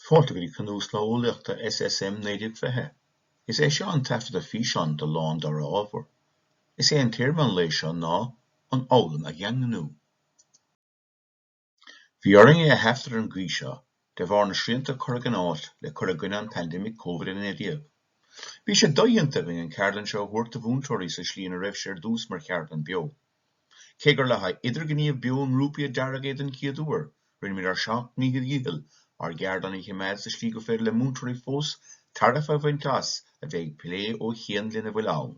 Fáilte go dtí Cnuas Lae Eolaíochta SSM 1920. Is é seo an taifeadadh físeáin do Lá an Dara Ábhar. Is é an téama an lae seo ná An Fhoghlaim a Dhaingniú. Bhí orainn é a thaifead ar an gcaoi seo de bharr na srianta curtha in áit le cur i gcoinne an pandemic Covid-19. Bhí sé dodhéanta againn an ceardlann seo a thabhairt do mhúinteoirí sa tslí ina raibh sé ar dtús mar cheardlann beo. Cé gur le haghaidh idirghníomh beo i ngrúpaí a dearadh é den chéad uair, rinneamar ár seacht míle dícheall ár gceardlann a choimeád sa slí gur féidir le múinteoirí fós tairbhe a bhaint as a bheith ag plé ó chian lena bhfuil ann.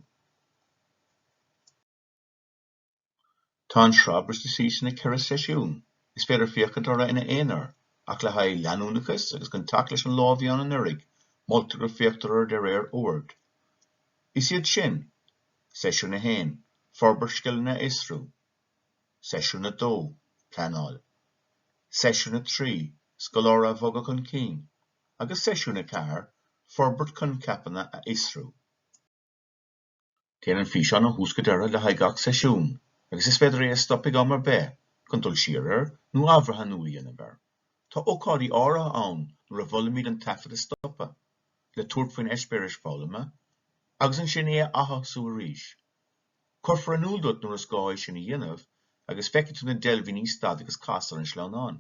Tá an sraith briste síos ina cheithre sheisiún. Is féidir féachaint orthu ina aonar, ach le haghaidh leanúnachas agus chun teacht leis an lá a bhí ann anuraidh, moltar go féachtar orthu de réir oird. Is iad sin. Seisiún 1, Forbairt Scileanna a Fhiosrú Seisiún 2, Pleanáil Seisiún 3, Scoláirí a Bhogadh chun Cinn agus Seisiún 4, Forbairt Coincheapanna a Fhiosrú. Téann an físeán ó thús go deireadh le haghaidh gach seisiún agus is féidir é a stop ag am ar bith chun dul siar air nó athbhreathnú a dhéanamh air. Tá ócáidí áirithe ann nuair a mholaimid an taifead a stopadh, le tabhairt faoin eispéireas foghlama agus ansin é a atosú arís. Cuirfear in iúl duit nuair is gá é sin a dhéanamh agus feicfidh tú na deilbhíní Stad agus Cas Air ar an sleamhnán.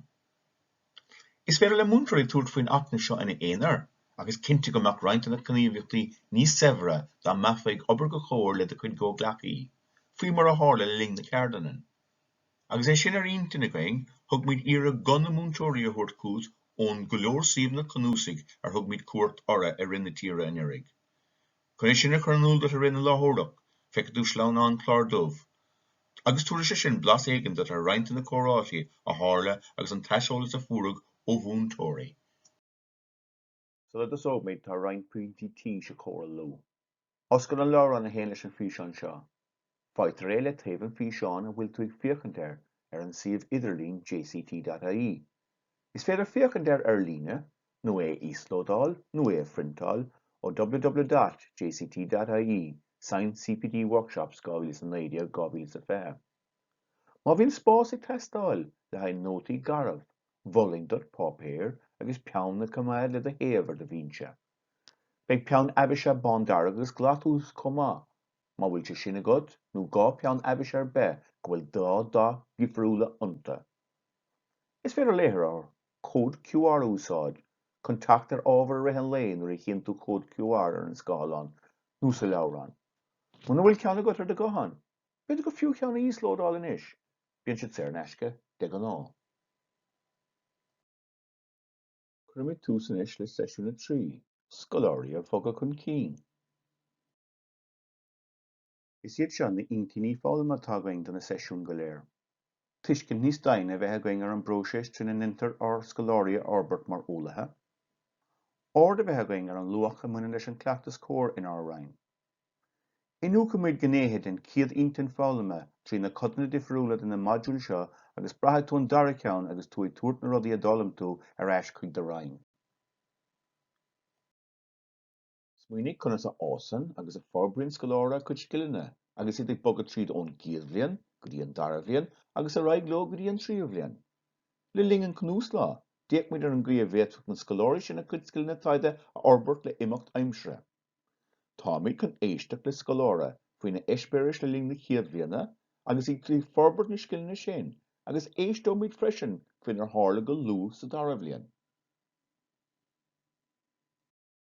Is féidir le múinteoirí tabhairt faoin acmhainn seo ina aonar ach is cinnte go mbeadh roinnt de na gníomhaíochtaí níos saibhre dá mbeifeá ag obair go comhar le do chuid gcomhghleacaí, faoi mar a tharla le linn na ceardlainne. Agus é sin ar intinn againn, thug muid iarracht guth na múinteoirí a thabhairt chugat ón go leor suíomhanna cnuasaigh ar thug muid cuairt orthu ar fud na tíre anuraidh. Chun é sin a chur in iúl duit i rith na láithreoireacht, feicfidh tú sleamhnán cláir dubh, agus tabharfaidh sé sin blas éigin duit ar roinnt de na comhráite a tharla agus an t-aiseolas a fuaireadh ó mhúinteoirí. Sula dtosóimid, tá roinnt pointí tís a chomhairliú. Oscail an leabhrán a théann leis an bhfíseán seo. Faightear é le taobh an físeáin a bhfuil tú ag féachaint air ar an suíomh idirlín jct.ie. Is féidir féachaint air ar líne, nó é a íoslódáil, nó é a phriontáil ó www.jct.ie, Science CPD Workshops 2019, 2020. Má bhíonn spás ag teastáil le haghaidh nótaí garbh, mholfainn duit páipéar agus peann a choimeád le do thaobh ar do bhinse. Beidh peann aibíse bándearg agus glas uait chomh maith, má bhfuil sé sin agat, nó dhá pheann aibíse ar bith go bhfuil dhá dath dhifriúla iontu. Is féidir léitheoir cód QR a úsáid chun teacht ar ábhar i rith an lae nuair a chíonn tú cód QR ar an scáileán nó sa leabhrán, muna bhfuil ceann agat ar do ghuthán. B'fhéidir gur fiú ceann a íoslódáil anois, bíonn siad saor in aisce de ghnáth. Cuirimid tús anois le seisiún a trí, Scoláirí a Bhogadh chun Cinn. Is iad seo na intinní foghlama atá againn do na seisiúin go léir. tuiscint níos doimhne a bheith againn ar an bpróiseas trína ndeintear ár scoláirí a fhorbairt mar eolaithe, aird a bheith againn ar an luach a bhaineann leis an gcleachtas comhair inár Roinn. Iniúchfaimid gnéithe den chéad intinn foghlama trí na codanna difriúla de na modúil seo agus braithfidh tú an dara ceann agus tú ag tabhairt na rudaí a d'fhoghlaim tú ar ais chuig do Roinn. Smaoinigh conas a fhásann agus a forbraíonn scoláire a gcuid scileanna agus iad ag bogadh tríd ón gcéad bhliain go dtí an dara bhliain agus ar aghaidh leo go dtí an tríú bhliain. Le linn an cnuaslá, d'fhéach muid ar an gcaoi a bhféadfadh na scoláirí sin a gcuid scileanna taighde a fhorbairt le himeacht aimsire. Táimid chun éisteacht le scoláire faoina eispéiris le linn na chéad bhliana agus iad ag forbairt na scileanna sin agus éisteoimid freisin faoinar tharla go luath sa dara bhliain.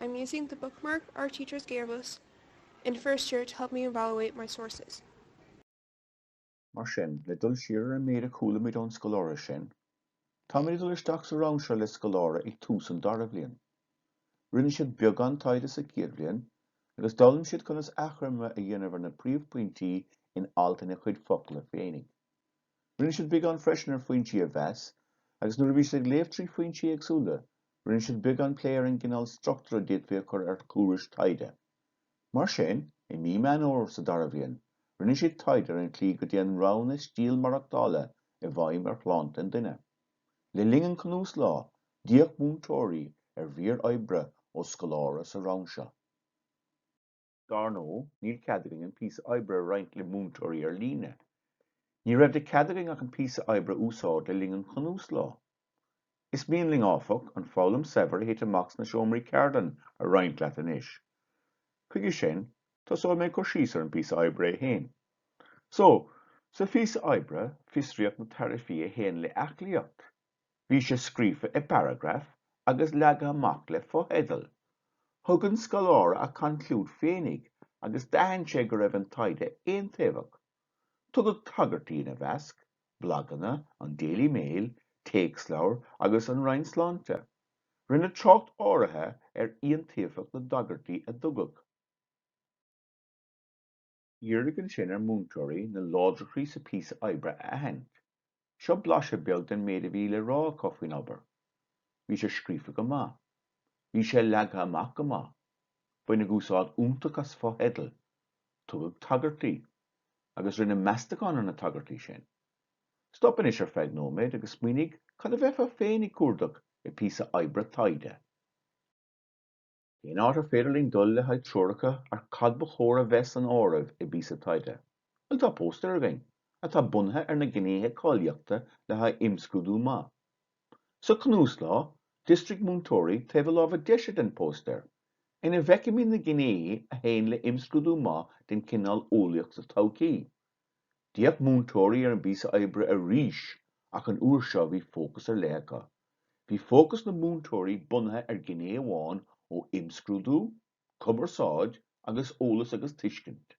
I'm using the bookmark our teachers gave us in first year to help me evaluate my sources. Mar sin, le dul siar ar an méid a chualamid ón scoláire sin, táimid ag dul isteach sa rang seo le scoláire ag tús an dara bhliain. Rinne siad beagán taighde sa chéad bhliain agus d'fhoghlaim siad conas achoimre a dhéanamh ar na príomhphointí in alt ina chuid focla féinig. Rinne siad beagán freisin ar foinsí a mheas, agus nuair a bhí siad ag léamh trí foinsí éagsúla, rinne siad beagán plé ar an gcineál struchtúir a d'fhéadfaí a chur ar thuairisc taighde. Mar sin, i mí Meán Fhómhair sa dara bhliain, rinne siad taighde ar an tslí go dtéann roghanna stíl maireachtála i bhfeidhm ar shláinte an duine. Le linn an Cnuaslá, d'fhéach múinteoirí ar mhír oibre ó scoláire sa rang seo. Dár ndóigh, níl cead againn an píosa oibre a roinnt le múinteoirí ar líne. Ní raibh de chead againn ach an píosa oibre a úsáid le linn an Chnuaslá. Is mian linn, áfach, an foghlaim saibhir a thit amach sna seomraí ceardlann a roinnt leat anois. Chuige sin, tosóidh mé ag cur síos ar an bpíosa oibre é féin. So, sa phíosa oibre, fiosraíodh na tairbhí a théann le aclaíocht. Bhí sé scríofa i bparagraif agus leagtha amach le fotheidil. Thug an scoláire a conclúid féinig agus d'aithin sé go raibh an taighde aontaobhach. Tugadh tagairtí ina mheasc, blaganna, an Daily Mail, téacsleabhair agus an Roinn Sláinte. Rinneadh trácht áirithe ar iontaofacht na dtagairtí a tugadh. Iarradh ansin ar mhúinteoirí na láidreachtaí sa phíosa oibre a aithint. Seo blaiseadh beag den méid a bhí le rá acu faoin obair. Bhí sé scríofa go maith. Bhí sé leagtha amach go maith. Baineadh úsáid iontach as fotheidil. Tugadh tagairtí. Agus rinneadh meastachán ar na tagairtí sin. Stop anois ar feadh nóiméad agus smaoinigh cad a bheifeá féin ag cuardach i bpíosa oibre taighde. Cén áit ar féidir linn dul le haghaidh treoracha ar cad ba chóir a bheith san áireamh i bpíosa taighde? Bhuel tá póstaeir againn atá bunaithe ar na gnéithe cáilíochta le haghaidh imscrúdú maith. Sa chnuaslá, d'ísrigh múinteoirí taobh na láimhe deise den phóstaer, ina bhfeicimid na gnéithe a théann le himscrúdú maith den chineál eolaíocht sa todhchaí, D'fhéach múinteoirí ar an bpíosa oibre arís ach an uair seo bhí fócas ar leith acu. Bhí fócas na múinteoirí bunaithe ar ghné amháin ó imscrúdú, cumarsáid agus eolas agus tuiscint.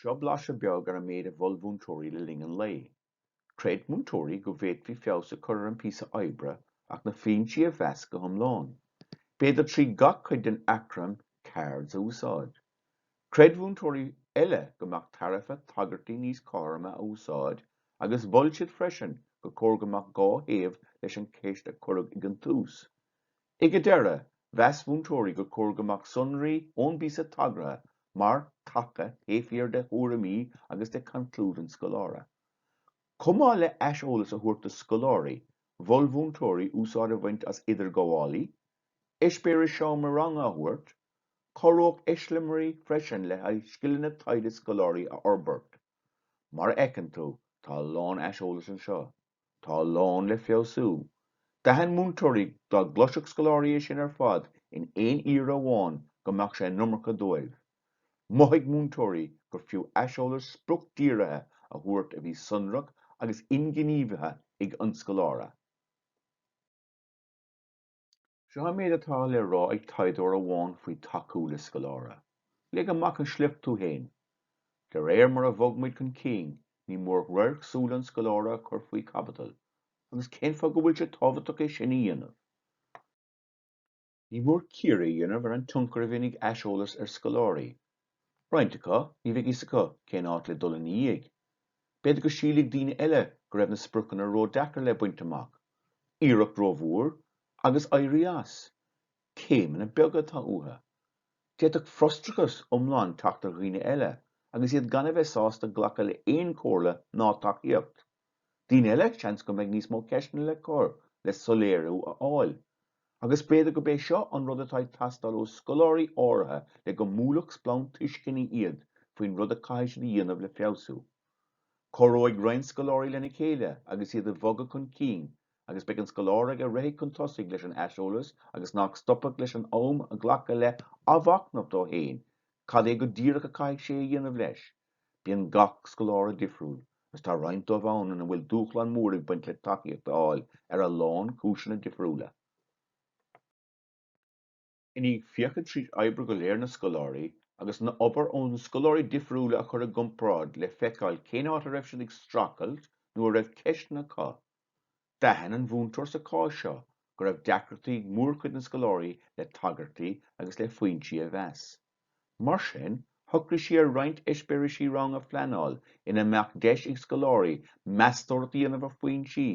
Seo blaiseadh beag ar an méid a mhol múinteoirí le linn an lae. Chreid múinteoirí go bhféadfaí feabhas a chur ar an bpíosa oibre ach na foinsí a mheas go hiomlán. B'fhéidir trí gach cuid den acrainm CEARD a úsáid. Chreid múinteoirí eile go mbeadh tairbhe tagairtí níos cothroime a úsáid agus mhol siad freisin gur chóir go mbeadh dhá thaobh leis an cheist a cuireadh ag an tús. Ag an deireadh, mheas múinteoirí gur chóir go mbeadh sonraí ón bpíosa tagartha mar thaca taobh thiar de thuairimí agus de conclúid an scoláire. Chomh maith le haiseolas a thabhairt do scoláirí, mhol múinteoirí úsáid a bhaint as idirghabhálacha, eispéiris seomra ranga a thabhairt, Chabhródh eiseamláirí freisin le haghaidh scileanna taighde scoláirí a fhorbairt. Mar a fheiceann tú, tá a lán aiseolas anseo. Tá a lán le feabhsú. D'aithin múinteoirí dá gcloisfeadh scoláirí é sin ar fad in aon iarraidh amháin go mbeadh sé an iomarca dóibh. Mhothaigh múinteoirí gur fiú aiseolas spriocdhírithe a thabhairt a bhí sonrach agus inghníomhaithe ag an scoláire. Seo an méid atá le rá ag taighdeoir amháin faoi tacú le scoláire, Léigh amach an sliocht tú féin! De réir mar a bhog muid chun cinn, ní mór radharc súl an scoláire a chur faoi chaibidil, agus cén fáth go bhfuil sé tábhachtach é sin a dhéanamh? Ní mór cíoradh a dhéanamh ar an tionchar a bhíonn ag aiseolas ar scoláirí, Roinnt acu, ní bheidh fhios acu cén áit le dul ina dhiaidh. B'fhéidir go sílfeadh daoine eile go raibh na spriocanna ródeacair le baint amach, iarracht rómhór agus éirí as, céimeanna beaga atá uathu. D'fhéadfadh frustrachas iomlán teacht ar dhaoine eile agus iad gan a bheith sásta glacadh le haon chomhairle ná tacaíocht. Daoine eile, seans go mbeidh níos mó ceisteanna le cur le soiléiriú a fháil. Agus b'fhéidir gurb é seo an rud atá ag teastáil ó scoláirí áirithe le go mbuailfeadh splanc tuisceana iad faoin rud a caithfidh siad a dhéanamh le feabhsú. Cabhróidh roinnt scoláirí lena chéile agus iad ag bhogadh chun cinn agus beidh an scoláire ag a rithfidh chun tosaigh leis an aiseolas agus nach stopfadh leis an am a ghlacadh le athmhachnamh dó féin cad é go díreach a caithfidh sé a dhéanamh leis Bíonn gach scoláire difriúil, agus tá roinnt díobh ann ina bhfuil dúshlán mór ag baint le tacaíocht a fháil ar a lán cúiseanna difriúla. I ndiaidh féachaint tríd oibre go léir na scoláirí, agus na obair ó na scoláirí difriúla a chur i gcomparáid le feiceáil cén áit a raibh siad ag streachailt nó a raibh ceisteanna acu, D'aithin an mhúinteoir sa chás seo go raibh deacrachtaí ag mórchuid na scoláirí le tagairtí agus le foinsí a mheas. Mar sin, shocraigh sí ar roinnt eispéirisí rang a phleanáil ina mbeadh deis ag scoláirí meastóireacht a dhéanamh ar fhoinsí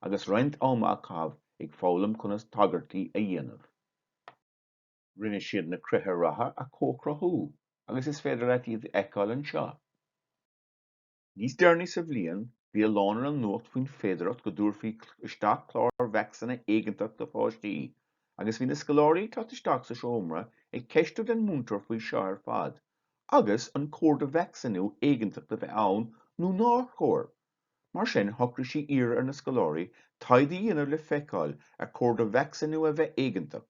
agus roinnt ama a chaitheamh ag foghlaim conas tagairtí a dhéanamh. Rinne siad na critéir ratha a comhchruthú agus is féidir leat iad a fheiceáil anseo. Níos deireanaí sa bhliain, bhí a lán ar an nuacht faoin féidearthacht go dtabharfaí isteach clár vacsaíne éigeantach do pháistí, agus bhí na scoláirí ag teacht isteach sa seomra ag ceistiú den mhúinteoir faoi seo ar fad, agus an cóir do vacsaíniú éigeantach a bheith ann nó nár chóir. Mar sin, shocraigh sí iarraidh ar na scoláirí taighde a dhéanamh le feiceáil ar chóir do vacsaíniú a bheith éigeantach,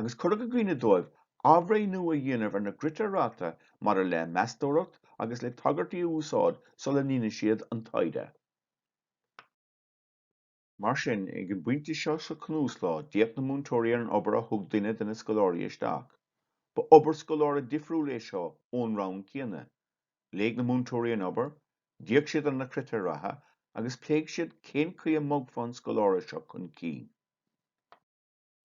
agus cuireadh i gcuimhne dóibh athbhreithniú a dhéanamh ar na gcritéir ratha maidir le meastóireacht agus le tagairtí a úsáid sula ndéanfadh siad an taighde. Mar sin, ag an bpointe seo sa chnuaslá, d'fhéach na múinteoirí ar an obair a thug duine de na scoláirí isteach. Ba obair scoláire difriúil é seo ón rang céanna. Léigh na múinteoirí an obair, d'fhéach siad ar na critéir ratha, agus pléigh siad cén chaoi a mbogfá an scoláire seo chun cinn.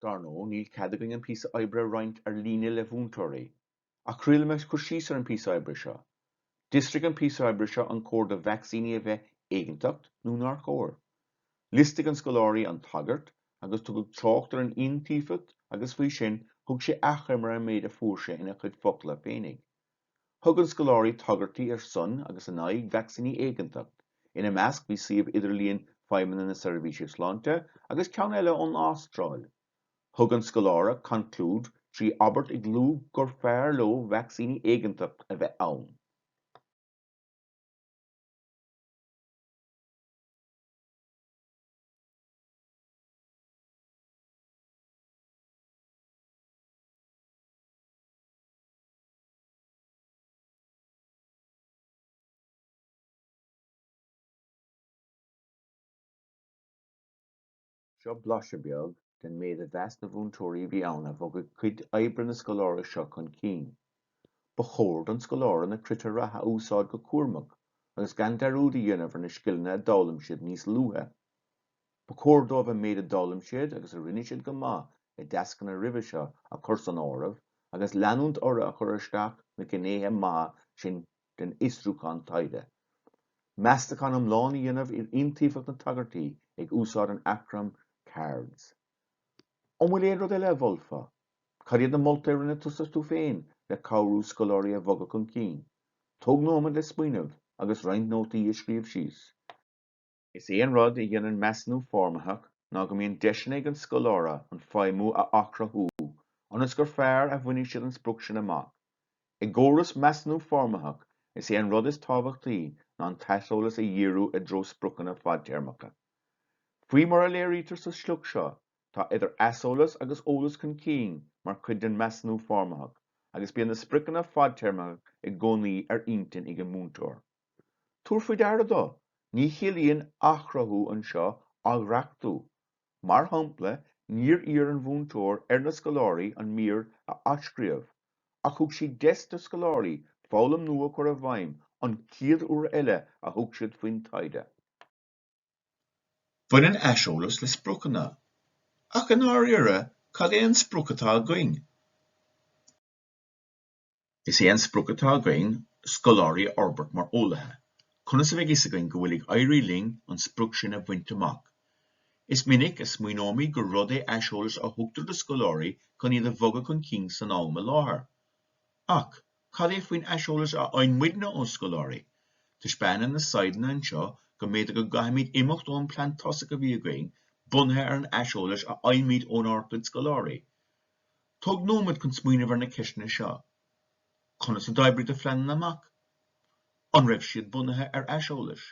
Dar ndóigh, níl cead againn an píosa oibre a roinnt ar líne le mhúinteoirí, ach triailfidh mé cur síos ar an bpíosa oibre seo. D'fhiosraigh an píosa oibre seo an cóir do vacsaíní a bheith éigeantach nó nár chóir. Liostaigh an scoláire an tagairt agus tugadh trácht ar an iontaofacht agus faoi sin thug sé achoimre ar an méid a fuair sé ina chuid focla féinig. Thug an scoláirí tagairtí ar son agus in aghaidh vacsaíní éigeantacht, ina measc bhí suíomh idirlíon Feidhmeanna na Seirbhíse Sláinte agus ceann eile ón Astráil. Thug an scoláire conclúid trí abairt ag lua gur fearr leo vacsaíní éigeantacht a bheith ann. Seo blaiseadh beag den méid a mheas na mhúinteoirí a bhí ann a bhogfadh cuid oibre na scoláire seo chun cinn, Ba chóir don scoláire na critéir ratha a úsáid go cúramach agus gan dearúd a dhéanamh ar na scileanna a d'fhoghlaim siad níos luaithe. Ba chóir dóibh an méid a d'fhoghlaim siad agus a rinne siad go maith i dtascanna roimhe seo a chur san áireamh agus leanúint orthu ag cur isteach na gnéithe maithe sin den fhiosrúchán taighde. Meastachán iomlán a dhéanamh ar iontaofacht na dtagairtí ag úsáid an acrainm Cards. An bhfuil aon rud eile a mholfá? Cad iad na moltaí a rinne tusa tú féin le cabhrú scoláirí a bhogadh chun cinn? Tóg nóiméad le smaoineamh agus roinnt nótaí a scríobh síos. Is é an rud a dhéanann measúnú foirmitheach ná go mbíonn deiseanna ag an scoláire an feidhmiú a athchruthú ionas gur fearr a bhainfidh siad an sprioc sin amach. I gcóras measúnú foirmitheach, is é an rud is tábhachtaí ná an t-aiseolas a dhíriú i dtreo spriocanna fadtéarmacha. Faoi mar a léirítear sa sliocht seo, tá idir aiseolas agus eolas chun cinn mar chuid den mheasúnú foirmitheach agus bíonn na spriocanna fadtéarmacha i gcónaí ar intinn ag an múinteoir. Tabhair faoi deara do, ní chiallaíonn athchruthú anseo athdhreachtú. Mar shampla, níor iarr an mhúinteoir ar na scoláirí an mír a athscríobh, ach thug siad deis do scoláirí foghlaim nua a chur i bhfeidhm an chéad uair eile a thug siad faoin taighde. Baineann aiseolas le spriocanna, ach i ndáiríre cad é an sprioc atá againn? Is é an sprioc atá againn scoláirí a fhorbairt mar eolaithe. Conas a bheidh fhios againn go bhfuil ag éirí linn an sprioc sin a bhaint amach? Is minic a smaoineoimid gur rud é aiseolas a thugtar do scoláirí chun iad a bhogadh chun cinn san am i láthair. Ach cad é faoin aiseolas a fhaigheann muidne ó scoláirí? Taispeánann na saighdeanna anseo go mb'fhéidir go gcaithfimid imeacht ón plean tosaigh a bhí againn bunaithe ar an aiseolas a fhaighimid ónár gcuid scoláirí. Tóg nóiméad chun smaoineamh ar na ceisteanna seo, Conas a d'oibrigh do phleananna amach? An raibh siad bunaithe ar aiseolais?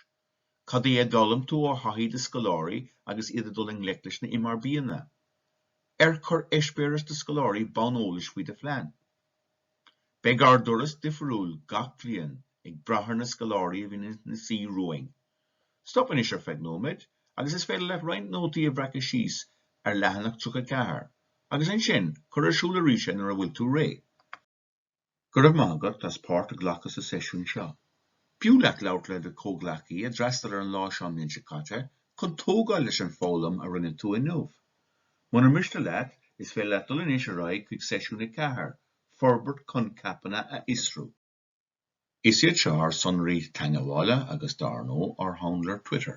Cad é a d'fhoghlaim tú ó thaithí do scoláirí agus iad ag dul i ngleic leis na MRBanna? Ar chuir eispéireas do scoláirí bonn eolais faoi do phlean? Beidh ár dturas difiriúil gach bliain ag brath ar na scoláirí a bhíonn ina suí romhainn. Stop anois ar feadh nóiméid agus is féidir leat roinnt nótaí a bhreacadh síos ar leathanach 34 agus ansin cuir ar siúl arís é nuair a bhfuil tú réidh. Go raibh maith agat as páirt a ghlacadh sa seisiún seo. B'fhiú leat labhairt le do chomhghleacaí a d'fhreastail ar an lá seo an mbliain seo caite chun tógáil leis an bhfoghlaim a rinne tú inniu. Muna miste leat, is féidir leat dul anois ar aghaidh chuig seisiún 4, Forbairt Coincheapanna a Fhiosrú. Is iad seo ár sonraí teagmhála agus dar ndóigh ár handle Twitter.